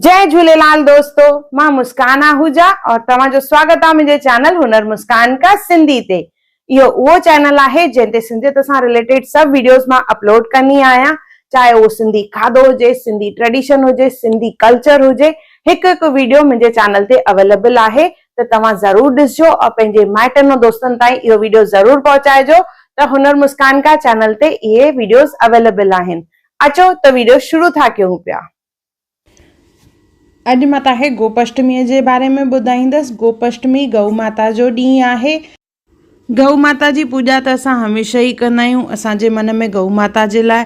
جئ جھوليلال دوستو مان مسڪان آهوجا اور توهان جو سواگت آ منهنجي چينل هنر مسڪان ڪا سنڌي تي اهو اهو چينل آهي جنهن تي سنڌيت سان رليٽيڊ سڀ ويڊيوز مان اپلوڊ ڪندي آهيان چاهي اهو سنڌي کاڌو هجي سنڌي ٽريڊيشن هجي سنڌي ڪلچر هجي هڪ هڪ ويڊيو منهنجي چينل تي اويليبل آهي ته توهان ضرور ڏسجو اور پنهنجي مائٽن ۽ دوستن تائين اهو ويڊيو ضرور پهچائجو ته هنر مسڪان ڪا چينل تي اهي ويڊيوز اويليبل آهن اچو ته ويڊيو شروع ٿا ڪيون پيا. اڄ مان تهانکي گوپشٽميء جي باري ۾ ٻڌائيندس. گوپشٽمي گئو ماتا جو ڏينهن آهي. گئو ماتا جي پوڄا ته اسان هميشه ئي ڪندا آهيون. اسان جي من ۾ گئو ماتا جي لاء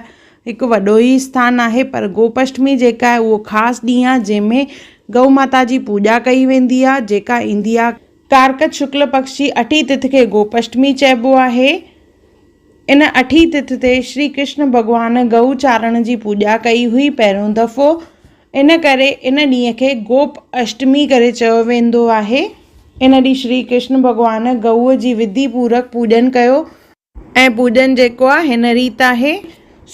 هڪ وڏو ئي اسٿان آهي پر گوپشٽمي جيڪا آهي اهو خاص ڏينهن آهي جنهن ۾ گئو ماتا جي پوڄا ڪئي ويندي آهي جيڪا ايندي آهي. ڪارڪت شڪل پڪش جي اٺين تٿ کي گوپشٽمي چئبو آهي. ان اٺين تٿ تي شري ڪرشن ڀڳوان گئو چارڻ جي پوڄا ڪئي هئي پهريون دفعو ان ڪري ان ڏينهن کي گوپ اشٽمي ڪري چيو ويندو آهي. ان ڏينهن شري ڪرشن ڀڳوان گئوء جي وڌي پورڪ پوڄن ڪيو. ۽ پوڄن جيڪو آهي هن ريت آهي،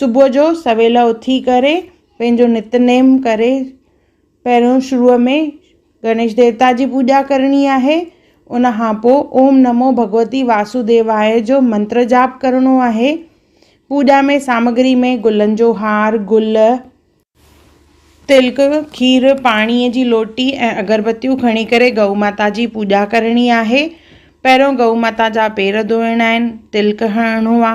صبح جو سويل اٿي ڪري پنهنجو نت نيم ڪري پهريون شروع ۾ گڻيش ديوتا جي پوڄا ڪرڻي آهي ان کان پوء اوم نمو ڀڳوتي واسوديواء جو منتر جاپ ڪرڻو آهي پوڄا ۾ سامگري ۾ گلن جو هار گل تلڪ کير پاڻي جي لوٽي ۽ اگربتيون کڻي ڪري گئو ماتا جي پوڄا ڪرڻي آهي پهريون گئو ماتا جا پير ڌوئڻا آهن تلڪ هڻڻو آ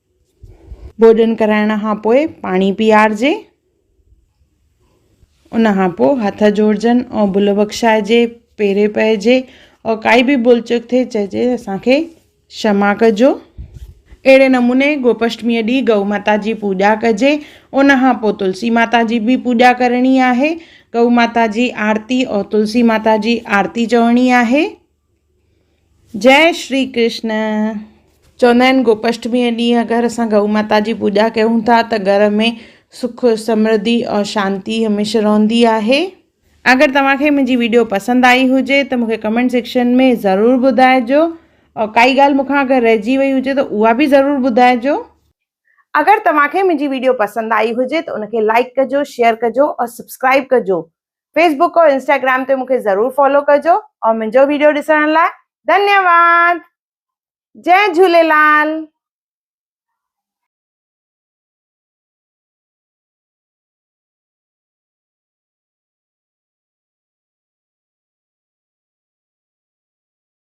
ڀوڄن ڪرائڻ کان پوء پاڻي پيئارجي. ان کان پوء هٿ جوڙجن ۽ ڀل بخشائجي، پيري پئجي ۽ ڪائي به ڀل چوڪ ٿئي چئجي ته اسان کي شما ڪجو. اهڙي نموني گوپشٽميء ڏينهن گئو ماتا جي پوڄا ڪجي. ان کان پوء تلسي ماتا جي به پوڄا ڪرڻي آهي. گئو ماتا جي آرتي ۽ تلسي ماتا جي آرتي چوڻي آهي. جئه شري ڪرشن. چوندا آهن گوپاشٽميء ڏينهن اگر اسان گئو ماتا جي پوڄا ڪيون ٿا ته گهر ۾ سک سمرڌي ۽ شانتي هميشه رهندي آهي. اگر توهان کي منهنجي ويڊيو پسند آئي هجي ته مونکي ڪمينٽ سيڪشن ۾ ضرور ٻڌائجو ۽ ڪائي ڳالهه مون کان اگر رهجي وئي هجي ته اها به ضرور ٻڌائجو. اگر توهان کي منهنجي ويڊيو پسند آئي هجي ته ان کي لائڪ ڪجو شيئر ڪجو ۽ سبسڪرائب ڪجو فيسبوڪ اور انسٽاگرام تي مونکي ضرور فالو ڪجو اور منهنجو ويڊيو ڏسڻ لاء ڌنيواد جي جهوليلال